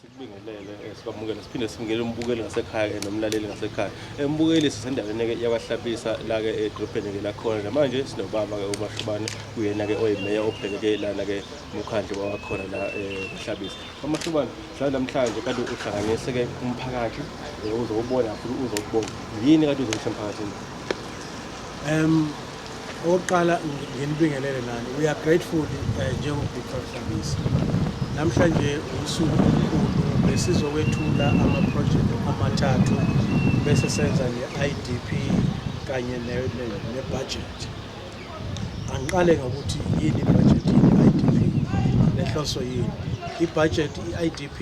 Sikubingelele sikwamukele siphinde sibingele umbukeli ngasekhaya nomlaleli ngasekhaya. Embukeli sisendaweni-ke yakwaHlabisa la-ke edrobheni-ke lakhona namanje sinobaba-ke uMashubane uyena-ke oyimeya obhekeke lana-ke umkhandlu wawakhona la eHlabisa. UMashubane mhlawumbe namhlanje kade uhlanganise-ke umphakathi uzowubona futhi uzokubona. Yini kade uzoyisho emphakathini? Um Okokuqala nginibingelele nani. We are grateful eh, njengo-Big Five Service. Namhlanje usuku olukhulu besizokwethula ama-project amathathu bese senza ne-IDP kanye ne-budget. Angiqale ngokuthi yini i-budget yini i-IDP nenhloso yini. I-budget i-IDP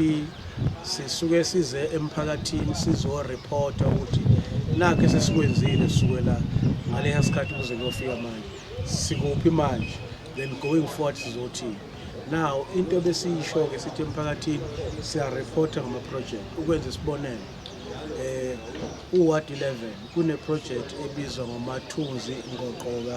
Sisuke size emphakathini sizoreporta ukuthi nakho esesikwenzile sukela ngaleya sikhathi kuze kuyofika manje sikuphi manje then going forward sizothini now into besiyisho-ke sithi emphakathini siyareporta ngama-project ukwenza isibonelo um uward 11 kuneprojekthi ebizwa ngomathunzi ngoqoka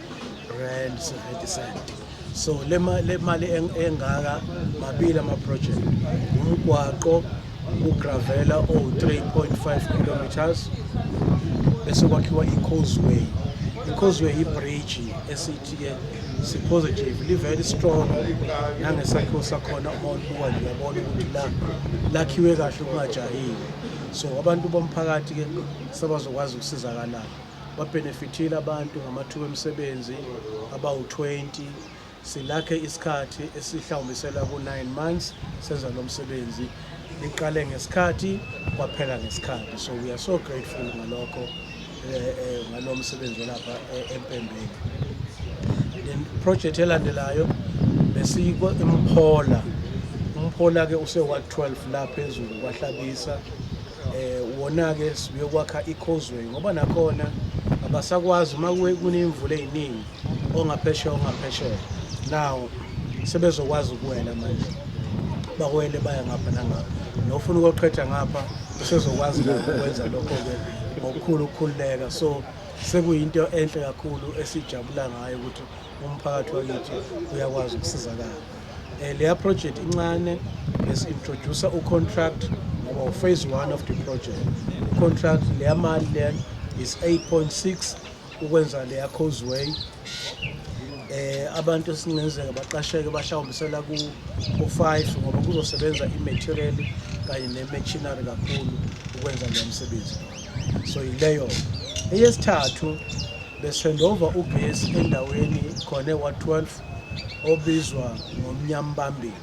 rand 70 cent so le mali engaka mabili ama-project umgwaqo ugravela o-3.5 kilometers bese kwakhiwa i-causeway i-causeway yi-bridge esithi-ke si-positive li-very strong nangesakhiwo sakhona uma ulibuka liyabona ukuthi la lakhiwe kahle kungajahile so abantu bomphakathi-ke sebazokwazi ukusizakalala babhenefithile abantu ngamathuba emisebenzi abawu-20 silakhe isikhathi esihlawumbisela ku-9 months senza lo msebenzi liqale ngesikhathi kwaphela ngesikhathi so we are so grateful ngalokho eh, eh, ngalo msebenzi olapha eh, empembeni then project elandelayo besiko imphola umphola-ke use-ward 12 la phezulu kwahlabisa um wona-ke sibuyokwakha i-causeway ngoba nakhona abasakwazi uma kuney'mvula ey'ningi ongaphesheya ongaphesheya nawo sebezokwazi ukuwela manje bakwele baya ngapha nangapha nofuna ukoqhetha ngapha usezokwazi ukwenza lokho-ke ngokukhulu ukukhululeka so sekuyinto enhle kakhulu esijabula ngayo ukuthi umphakathi wakithi uyakwazi ukusizakala Eh, leya project incane besi-introducer ucontract ngoba uphase one of the project ucontract leya mali leyo is 8.6 ukwenza leya causeway eh abantu esingenzeka baqasheke bashawumbisela ku ku5 ngoba kuzosebenza imaterial kanye nemachinery kakhulu ukwenza lo msebenzi so yileyo eyesithathu besendova ugesi endaweni khona wa12 obizwa ngomnyambambili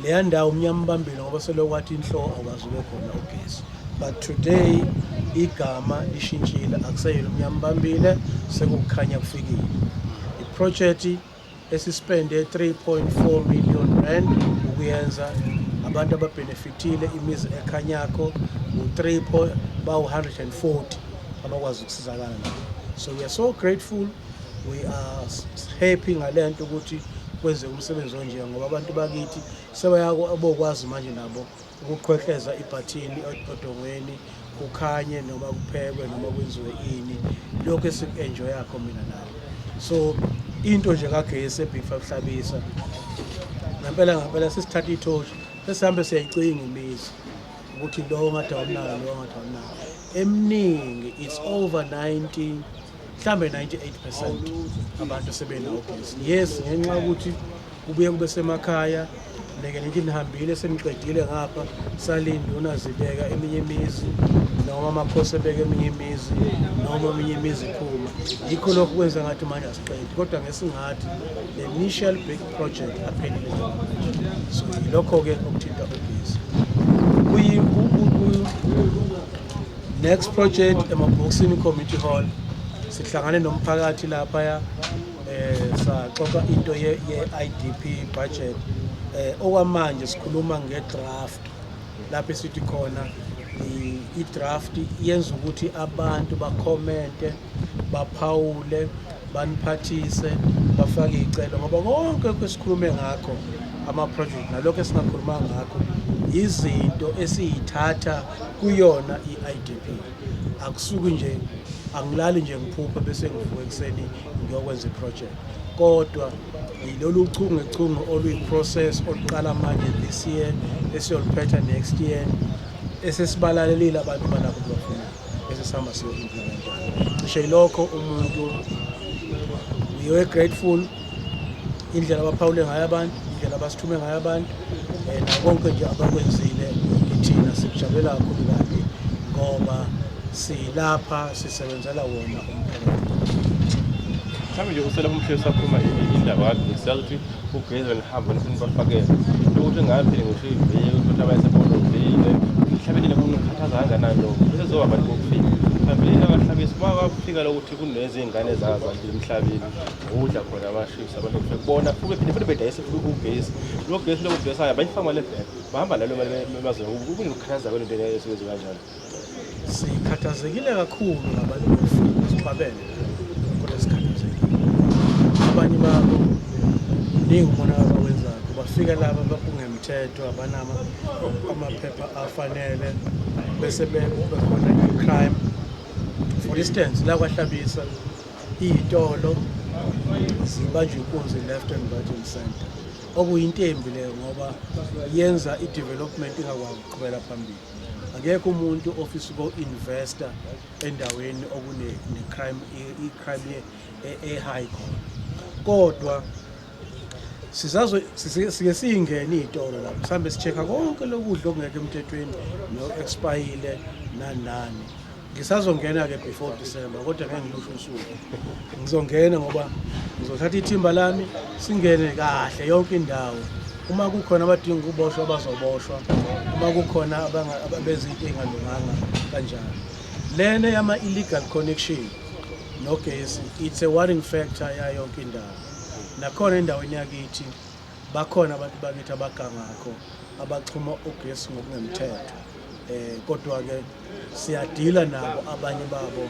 leya ndawo umnyambambili ngoba selokwathi inhloko akwazi ube khona ugesi but today igama lishintshile akuseyona umnyambambile sekukhanya kufikile iproject esispende 3.4 million rand ukuyenza abantu ababhenefithile imizi ekhanyakho u-3 bawu-140 abakwazi ukusizakala nabo so we are so grateful we are happy ngalento ukuthi kwenze umsebenzi onje ngoba abantu bakithi sebayabokwazi manje nabo ukuqhwehleza ibhathini odongweni kukhanye noma kuphekwe noma kwenziwe ini lokho esiku-enjoyakho mina nayo so into nje kagesi ebhifa kuhlabisa ngempela ngempela sesithatha ithoshi sesihambe siyayicinga imizi ukuthi lowo ngathi awunayo lowo ngathi awunayo eminingi it's over 90 mhlambe 98 percent abantu sebenawo ugesi yes ngenxa yokuthi kubuye kube semakhaya ngeke ngithi nihambile seniqedile ngapha salinde unazibeka eminye imizi noma amakhosi ebeka eminye imizi noma eminye imizi iphuma yikho lokho kwenza ngathi manje asiqedi kodwa ngesingathi the initial big project aphelile so yilokho-ke okuthinta ugesi Next project emabhokisini community hall sihlangane nomphakathi lapha ya eh saxoxa into ye, ye IDP budget eh okwamanje sikhuluma ngedraft lapho sithi khona i-draft yenza ukuthi abantu bakhomente baphawule baniphathise bafake iy'celo ngoba konke kwesikhulume ngakho ama-project nalokho esingakhuluma ngakho izinto esiyithatha kuyona i-idp akusuki nje angilali nje ngiphuphe bese ngivuka ekuseni ngiyokwenza i-project kodwa yilolu chungechunge oluyi-process oluqala manje this year esiyoluphetha next year esesibalalelile abantu balapho esesihamba siyo-implementa cishe yilokho umuntu uyowe grateful indlela abaphawule ngayo abantu indlela abasithume ngayo abantu um konke nje abakwenzile ithina sikujabulela kakhulu kabi ngoba silapha sisebenzela wona umphakathi mhlawumbe nje uselapha umhleli usakhuluma indaba siyazi ukuthi Ugeza nihamba nifuna bafakele ukuthi ngaphile ngisho iviki ukuthi abayesebona ngivile ngihlabelile kumuntu ngikhathaza kangakanani lokho sezoba bantu bokufika phambilini abahlabisi bakufika lokuthi kunezingane zazo emhlabeni ngokudla khona abashisi abantu kufike kubona fuke phinde futhi bedayise futhi ugesi lo gesi lokudesayo bayifaka mali ebheka bahamba nalo mali emazweni kunokukhathaza kwento esuke kanjalo Sikhathazekile kakhulu ngabantu befika esibabele kodwa sikhathazekile. Abanye babo ningi umonakalo abawenzayo bafika laba bakungemthetho abanama amaphepha afanele bese bekube khona i-crime for instance la kwahlabisa iy'tolo zibanjwa inkunzi left and right and center okuyinto embi leyo ngoba yenza i-development ingakwazi ukuqhubela phambili akekho umuntu ofisa uko-investa endaweni okune-crime i-crime e-high e, e khona kodwa sizazo sike siyingene iy'tolo lapho sihambe si-check-a konke lokudla okungekho emthethweni no-expayile nanani Ngisazongena ke before December kodwa ngeke ngilusho usuku. Ngizongena ngoba ngizothatha ithimba lami singene kahle yonke indawo. Uma kukhona abadinga ukuboshwa bazoboshwa. Uma kukhona abenza into engalunganga kanjalo. Lena yama illegal connection nogesi it's a worrying factor yayo yonke indawo. Nakhona endaweni yakithi Bakhona abantu bakithi abagangakho abaxhuma ugesi ngokungemthetho eh kodwa ke siyadila nabo abanye babo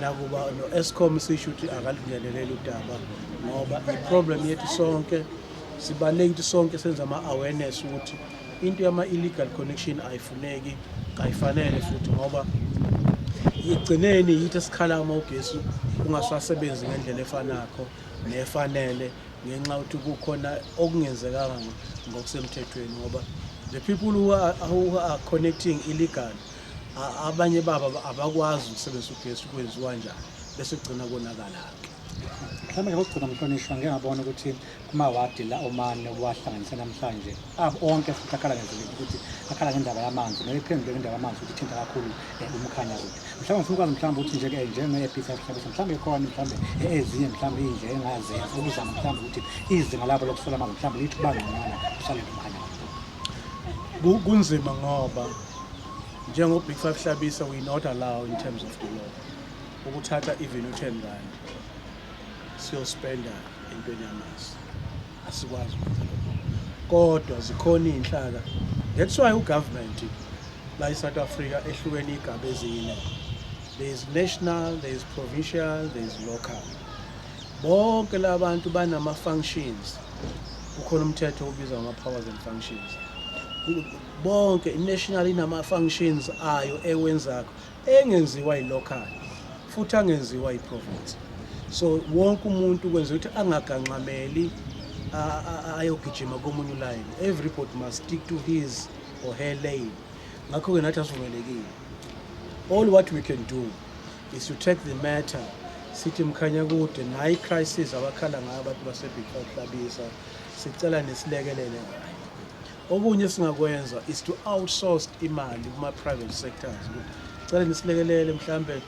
nakuba no-escom sisho ukuthi akalingeneleli udaba ngoba i-problem yethu sonke sibaluleke ukuthi sonke senza ama-awareness ukuthi into yama-illegal connection ayifuneki kayifanele futhi ngoba igcineni yithi esikhala uma ugesi ungasasebenzi ngendlela efanakho nefanele ngenxa ukuthi kukhona okungenzekanga ngokusemthethweni ngoba the people who are, who are connecting illegal abanye baba abakwazi ukusebenzisa ugesi kwenziwa njani bese kugcina konakala-ke mhlawumbe ngokugcina mhlonishwa ngiyabona ukuthi kumawadi la omane obuwahlanganise namhlanje abo onke futhi akhala ngendlela ukuthi akhala ngendaba yamanzi noma iphendule ngendaba yamanzi ukuthi ithinta kakhulu eh, umkhanya ukuthi mhlawumbe ngifuna ukwazi mhlawumbe ukuthi nje-ke njenge-episa mhlawumbe mhlawumbe ikhona mhlawumbe ezinye mhlawumbe iyinje engazenza ukuzama mhlawumbe ukuthi izinga labo lokusola amanzi mhlawumbe lithi uba ngconywana kusalele umkhanya Ku- kunzima ngoba njengo-big five hlabisa we not allow in terms of the law ukuthatha even u-ten rand siyospenda entweni yamanzi asikwazi ukwenza lokho kodwa zikhona iy'nhlaka that's why ugovernment la i-south africa ehlukene iy'gaba ezine there is national there is provincial there is local bonke la bantu banama-functions kukhona umthetho obizwa ngama-powers and functions bonke i-national inama-functions ayo ewenzayo engenziwa ilocal futhi angenziwa iprovince so wonke umuntu kwenza ukuthi angaganxameli ayogijima komunye ulayini everybody must stick to his or her lane ngakho-ke nathi asivumelekile all what we can do is to take the matter sithi mkhanya kude naye i-crisis abakhala ngayo abantu basebigfahlabisa sicela nisilekelele ngayo Okunye singakwenza is to outsource imali kuma private sectors. Cela nisilekelele mhlambe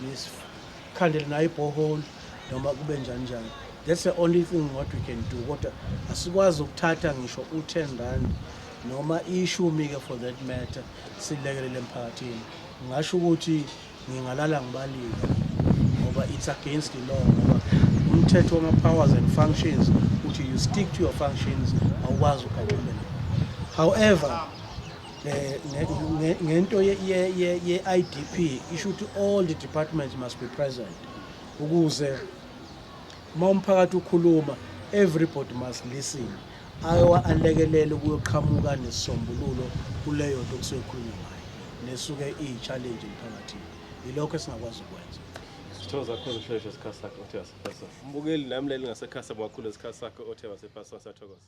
nisikhandele nayo ibhohole noma kube njani njani. That's the only thing what we can do. Kodwa asikwazi ukuthatha ngisho u10 rand noma ishumi ke for that matter silekelele emphakathini. Ngasho ukuthi Ngingalala ngibalile ngoba it's against the law ngoba umthetho wama-powers and functions uthi you stick to your functions awukwazi ugaxumela however eh, ngento ye-idp isho ukuthi all the departments must be present ukuze Uma umphakathi ukhuluma, everybody must listen. Ayowa alekelele ukuyoqhamuka nesisombululo kuleyo nto kusuke khulunywa ngayo nesuke iyi-challenge emphakathini. Yilokho esingakwazi ukwenza. Sitho zakho zisheshe isikhathi sakho othe wasipasa. Mbukeli nami leli ngasekhasa mwakhulu isikhathi sakho othe wasipasa sathokoza.